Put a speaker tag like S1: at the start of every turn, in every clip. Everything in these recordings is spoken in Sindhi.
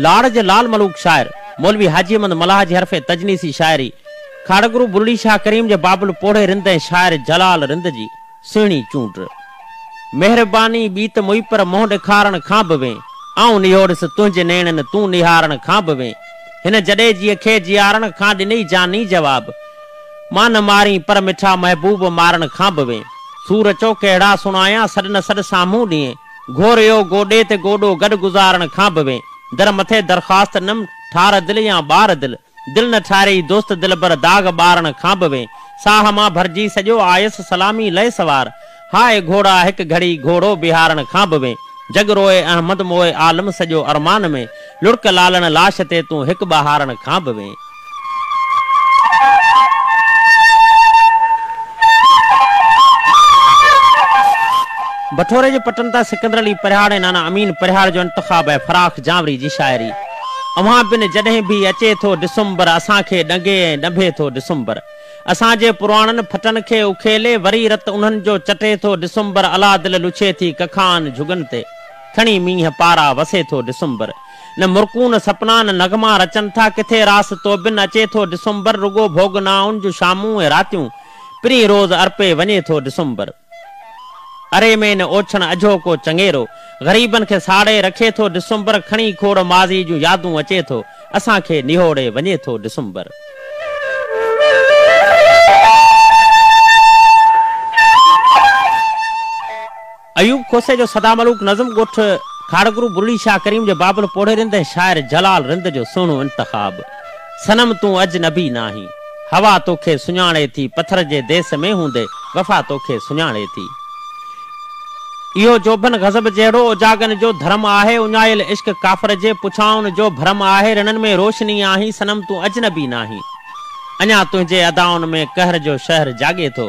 S1: لاڙ جي لعل ملوڪ شاعر، مولوي حاجي احمد ملاح جي حرف تجنيسي شاعري، کاڙهگرو بلڙي شاهه ڪريم جي بابل پوڙهي رند ۽ شاعر جلال رند جي. سهڻي چونڊ. مهرباني ٻي ته مئي پر منهن ڏيکارڻ کان به وين. آئون نهوڙس تنهنجي نيڻن تون نهارڻ کان به وين. هن جڏيجيء کي جيارڻ کان ڏنئي جاني جواب. مان نه مارين پر مٺا محبوب مارڻ کان به وين. سور چئو ڪهڙا سڻايان سڏ نه سڏ سامهون ڏينهن. گهوريو گوڏي تي گوڏو گڏ گذارڻ کان به وين. در مٿي درخواست نم ٺار دل يا ٻار دل. دل نه ٺاريئي دوست دلبر داغ ٻارڻ کان به وين ساهه مان ڀرجي سڄو آيس سلامي لئي سوار هاء گهوڙا هڪ گهڙي گهوڙو بيهارڻ کان به وين جڳ روئي احمد موئي عالم سڄو ارمان ۾ لڙڪ لالڻ لاش تي تون هڪ ٻهارڻ کان به وين. بٺوري جي پٽن تان سڪندر علي پرهياڙ ۽ نانا امين پرهياڙ جو انتخاب آهي فراخ جانوري جي شاعري. اوهان بن جڏهن به اچي ٿو ڊسمبر اسان کي ڏنگي ۽ ڏنڀي ٿو ڊسمبر اسان جي پراڻن ڦٽن کي اکيلي وري رت انهن جو چٽي ٿو ڊسمبر الا دل لڇي ٿي ڪکان جهڳن تي کڻي مينهن پارا وسي ٿو ڊسمبر نه مرڪون سپنا نه نغما رچن ٿا ڪٿي راس توبن اچي ٿو ڊسمبر رڳو ڀوڳنائن جون شامون ۽ راتيون پرين روز ارپي وڃي ٿو ڊسمبر. اري ۾ نه اوڇڻ اجهو ڪو چڱيرو غريبن کي ساڙي رکي ٿو ڊسمبر کڻي کوڙ ماضي جون يادون اچي ٿو اسان کي نهوڙي وڃي ٿو ڊسمبر. ايوب کوسي جو سدا ملوڪ نظم ڳوٺ کاڙهگرو برڙي شاهه ڪريم جي بابل پوڙهي رند ۽ شاعر جلال رند جو سهڻو انتخاب. صنم تون اجنبي ناهين، هوا توکي سڃاڻي ٿي پٿر جي ديس ۾ هوندي وفا توکي سڃاڻي ٿي. اهو جوڀن غضب جهڙو اجاڳن جو ڌرم آهي، اڃايل عشق ڪافر جي پڇائن جو ڀرم آهي، رنن ۾ روشني آهين صنم تون اجنبي ناهين، اڃا تنهنجي ادائن ۾ قهر جو شهر جاڳي ٿو،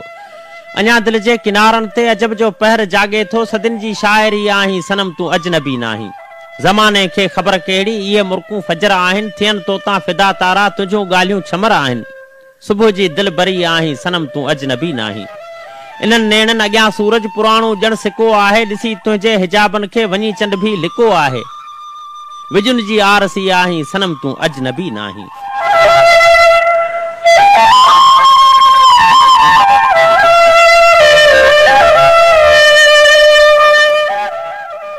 S1: اڃا دل جي ڪنارن تي عجب جو پهر جاڳي ٿو، صدين جي شاعري آهين صنم تون اجنبي ناهين. زماني کي خبر ڪهڙي، اهي مرڪون فجر آهن، ٿين توتان فدا تارا، تنهنجون ڳالهيون ڇمر آهن. صبح جي دلبري آهين، صنم تون اجنبي ناهين. انهن نيڻن اڳيان سورج پراڻو ڄڻ سڪو آهي، ڏسي تنهنجي حجابن کي، وڃي چنڊ ڀي لڪو آهي. وڄن جي آرسي آهين، صنم تون اجنبي ناهين.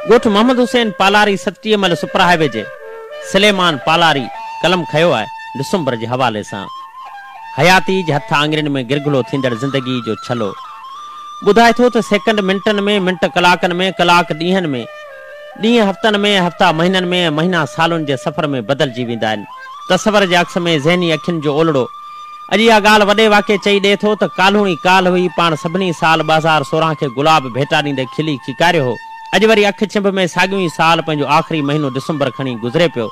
S1: ڳوٺ محمد حسين پالاري ستٽيهه مئل سپر هاء وي جي سليمان پالاري قلم کنيو آهي ڊسمبر جي حوالي سان حياتي جي هٿ آڱرين ۾ گرگهلو ٿيندڙ زندگي جو ڇلو ٻڌائي ٿو ته سيڪنڊ منٽن ۾ منٽ ڪلاڪن ۾ ڪلاڪ ڏينهن ۾. ڏينهن هفتن ۾، هفتا مهينن ۾، ۽ مهينا سالن جي سفر ۾ بدلجي ويندا آهن. تصور جي عڪس ۾ ذهني اکين جو اولڙو. اڄ اها ڳالهه وڏي واڪي چئي ڏئي ٿو ته ڪالهون ئي ڪالهه هئي، پاڻ سڀني سال ٻه هزار سورهن کي گلاب ڀيٽا ڏيندي کلي کيڪاريو هو. اڄ وري اک چنڀ ۾ ساڳيون ئي سال پنهنجو آخري مهينو ڊسمبر کڻي گذري پيو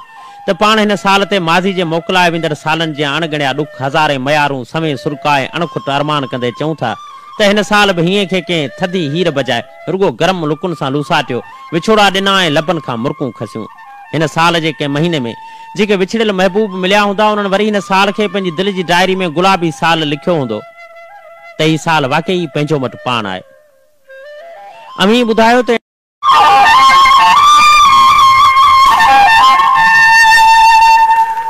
S1: ته پاڻ هن سال تي ماضي جي موڪلائي ويندڙ سالن جيان اڻ ڳڻيا ڏک، هزارين ميارون، سوين سرڪا ۽ اڻ کٽ ارمان ڪندي چئون ٿا ته هن سال به هينئين کي ڪنهن ٿڌي هير بجاء. رڳو گرم لڪن سان لوساٽيو، وڇوڙا ڏنا ۽ لبن کان مرڪون کسيون. هن سال جي ڪنهن مهيني ۾ جيڪي وڇڙيل محبوب مليا هوندا، انهن وري هن سال کي پنهنجي دل جي ڊائري ۾ گلابي سال لکيو هوندو ته هي سال واقعي ئي پنهنجو مٽ پاڻ آهي. اوهين ٻڌايو ته.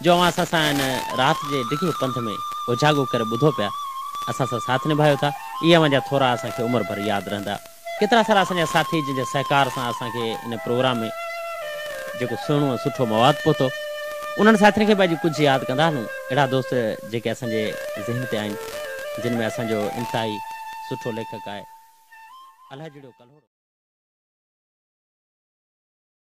S1: جو اوهان اسان سان هن رات جي ڊگهي پنڌ ۾ اوجاڳو ڪري ٻڌو پيا، اسان سان ساٿ نڀايو ٿا، اهي اوهان جا ٿورا اسان کي عمر ڀر ياد رهندا. ڪيترا سارا اسان جا ساٿي جن جي سهڪار سان اسان کي هن پروگرام ۾ جيڪو سهڻو ۽ سٺو مواد پهتو، انهن ساٿين کي به اڄ ڪجهه ياد ڪندا هلون، اهڙا دوست جيڪي اسان جي ذهن تي آهن، جن ۾ اسان جو انتهائي سٺو ليکڪ آهي الهجڙيو ڪلهوڙو.